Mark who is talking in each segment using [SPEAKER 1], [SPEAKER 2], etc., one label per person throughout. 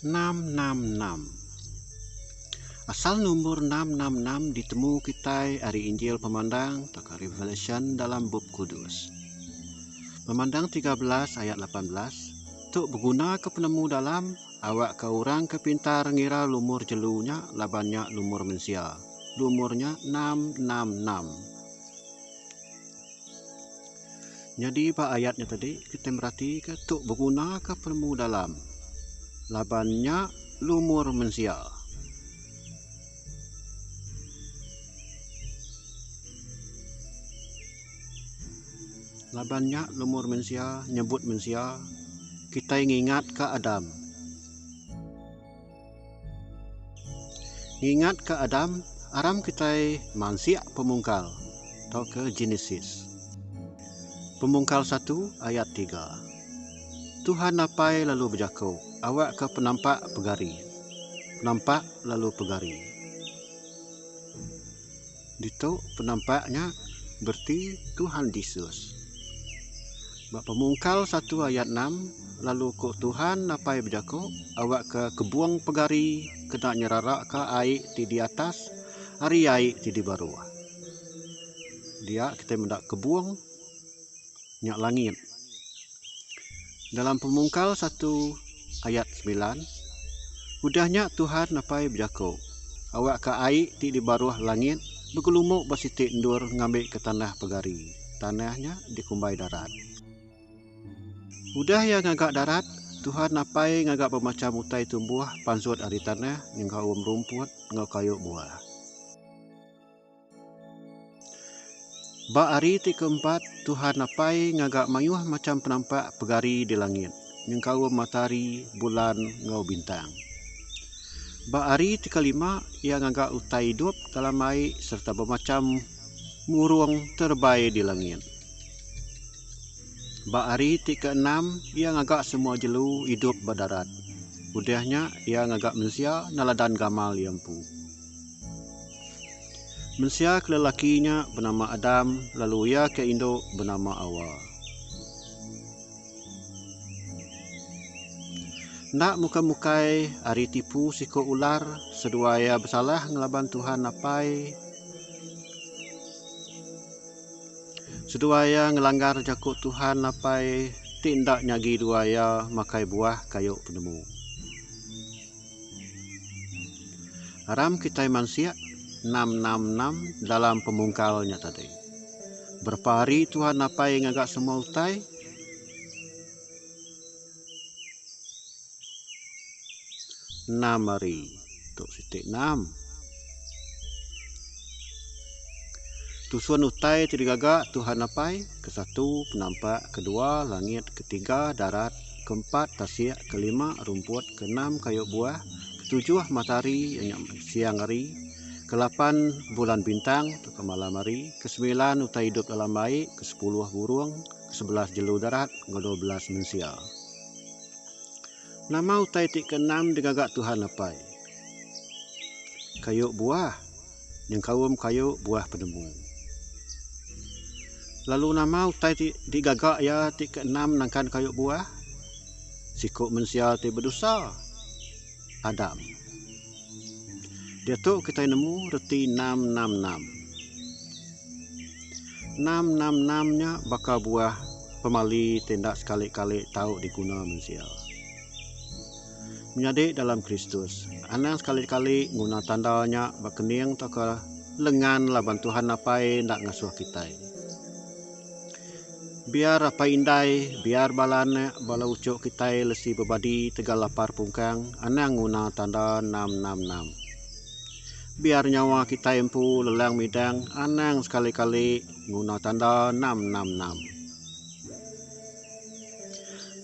[SPEAKER 1] Enam enam enam. Asal numbur enam enam enam ditemu kitai ari Injil Pemandang tauka Revelation dalam Bup Kudus. Pemandang tiga belas ayat lapan belas, Tu begunaka penemu dalam, awakka orang ke pintar ngira lumur jelu nya laban nya lumur mensia. Umur nya enam enam enam. Nyadi ba ayat nya tadi kitai meratika tu begunaka penemu dalam laban nya lumur mensia. Laban nya lumur mensia nyebut mensia kitai ngingatka Adam. Ngingat ke Adam, aram kitai mansik pemungkal tauka Genesis pemungkal satu ayat tiga. Tuhan Apai lalu bejako awak ke penampak pegari, penampak lalu pegari. Ditu penampak nya bereti Tuhan Jesus. Ba Pemungkal satu ayat enam, lalu ku Tuhan napai bejaku, Awakka kebung pegari kena nyerarakka ai ti di atas ari ai ti di baruh. Dia kitai meda kebung. nya langit. Dalam Pemungkal satu ayat semilan, udah nya Tuhan apai bejaku, Awakka ai ti di baruh langit begelumuk ba siti endur ngambika tanah pegari, tanah nya dikumbai darat. Udah Iya ngaga darat, Tuhan apai ngaga bemacham utai tumbuh pansut ari tanah nyengkaum rumput enggau kayu buah. Ba hari ti keempat, Tuhan Apai ngaga mayuh macham penampak pegari di langit, nyengkaum matahari, bulan, enggau bintang. Ba hari ti kelima, Iya ngaga utai idup dalam ai sereta bemacham burung terebai di langit. Ba hari ti keenam, Iya ngaga semua jelu idup ba darat. Udah nya, Iya ngaga mensia neladan gamal Iya empu. Mensia ke lelaki nya benama Adam lalu iya ke indu benama Awa. Enda mukai-mukai ari tipu siko ular seduai iya besalah ngelaban Tuhan Apai seduai iya ngelanggar jaku Tuhan Apai ti enda nyagi dua iya makai buah kayu penemu. Aram kitai mansik enam-enam-enam dalam pemungkal nya tadi. Berapa hari Tuhan napai ngaga semua utai? Enam hari. Tu siti enam. Tusun utai ti digaga Tuhan napai, kesatu penampak, kedua langit, ketiga darat, Keempat, tasik. Kelima, rumput. Keenam, kayu buah. Ketujuh, matahari iya nya siang hari. Kelapan, bulan bintang tauka malam hari. Kesemilan, utai idup dalam ai. Kesepuluh, burung. Kesebelas, jelu darat enggau dua belas, mensia. Nama utai ti keenam digaga Tuhan Apai? Kayu buah. nyengkaum kayu buah penemu. Lalu nama utai ti digaga iya ti keenam nangkan kayu buah? Siku mensia ti bedosa, Adam. Diatu kitai nemu reti enam enam enam. Enam enam enam nya baka buah pemali ti enda sekali-kali tau diguna mensia. menyadi dalam Kristus. Anang sekali-kali nguna tanda nya ba kening tauka lengan laban Tuhan Apai enda ngasuh kitai. Biar apai indai, biar bala anak, bala uchu kitai lesi bebadi tegal lapar pungkang, anang nguna tanda enam-enam-enam. Biar nyawa kitai empu lelang midang, anang sekali-kali nguna tanda enam-enam-enam.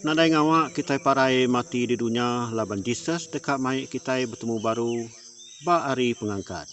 [SPEAKER 1] Nadai ngawa kitai parai mati di dunya laban Jesus deka mai kitai betemu baru ba Hari Pengangkat.